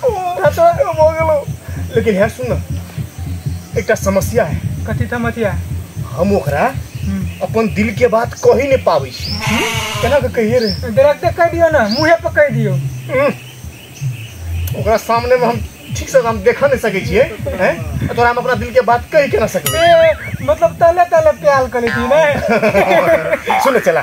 हो गेलो लेकिन है सुन ना एकटा समस्या है कथी था मथिया हम ओकरा अपन दिल के बात कह ही नहीं पाबै छी केना के कहिए रे डायरेक्टे कह दियो ना मुँहे पर कह दियो उह, ओकरा सामने में हम ठीक से हम देखा नहीं सकै छियै हैं आ तोरा हम अपना दिल के बात कहि केना सकबै ए, मतलब तले तले प्याल कर लेती ना सुन चला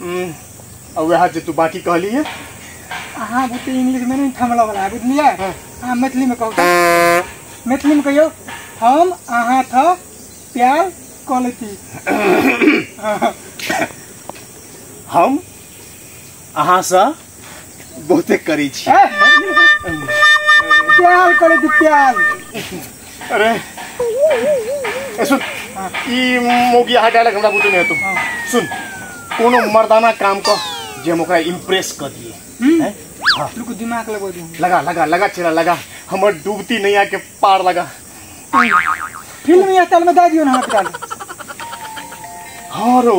हम्म, और वह जो तू बाकी कहली है अहाँ बुते इंग्लिश में नहीं थमला वाला है बुझलिए हाँ। अहाँ मैथिली में कहू तऽ। मैथिली में कहियो हम अहाँ था प्यार कऽ लेती हम अहाँ से बहुते करै छी प्यार करे तू प्यार अरे ए सुन ई मोगी हार्ट अटैक हमरा बुझे नहीं तुम सुन कोनो मर्दाना काम कर जे हम ओकरा इम्प्रेस कर दिए हैं? हाँ, तू को दिमाग लगो दू लगा लगा लगा चेहरा लगा हमर डूबती नैया के पार लगा फिल्म या तल में दा दियो ना हाथ डाल हाँ रो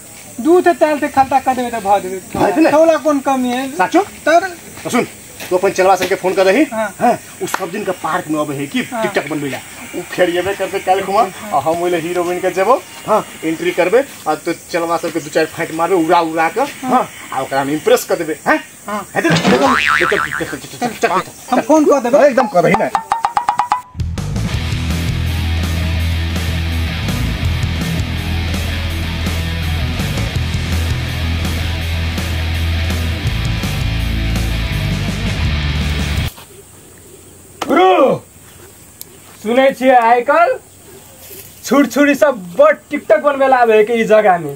दूध से तेल से खलता कर देबे त भ देबे भाई भेलै? तोला कोन कमी है साचो तर तो सुन तू अपन चलवा सबके फोन कर रही हाँ। हाँ, उ सब दिन का पार्क में अबे है कि हाँ। टिकटॉक बनबे ला उ फेर येबे करते काल खुमा आ हम ओले हीरो बन के जेबो हां एंट्री करबे आ तो चलवा सबके दू चार फाइट मारबे उड़ा उड़ा के हां आ ओकरा हम इम्प्रेस कर देबे हैं हाँ। हम फोन कर देबै एकदम करही ना गुरु सुनै छियै आइ काल्हि छुट छुरी सब बड टिकटक बनबै लए आबै है कि ई जगह में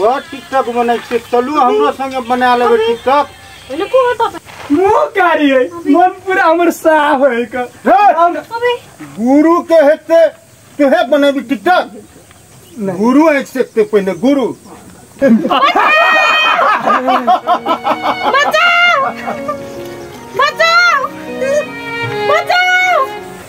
बड़ टिकटॉक बनै छै चलू हमरो संगे बना लेबै टिकटॉक हेलो को होता बे? मुंह कारी है मन पूरा हमर साफ है का हे, अबे गुरु के हेते तोहे बनेबी टिकटॉक गुरु आँखि सेकते पहिने गुरु बचाओ बचाओ बचाओ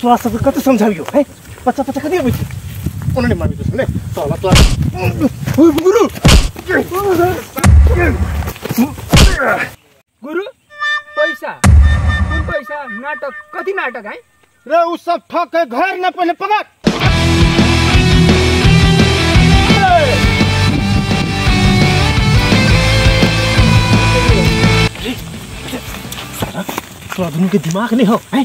तोरा सबके कते समझाबियो है पचा पचा कते अबै छै कोनो नहि मानै छै ने साला तोरा ओए गुरु गुरु पैसा कोन पैसा नाटक कथी नाटक है रे उ सब ठक है घर न पहले पकड़ तोरा दुनू के दिमाग नहीं हो हैं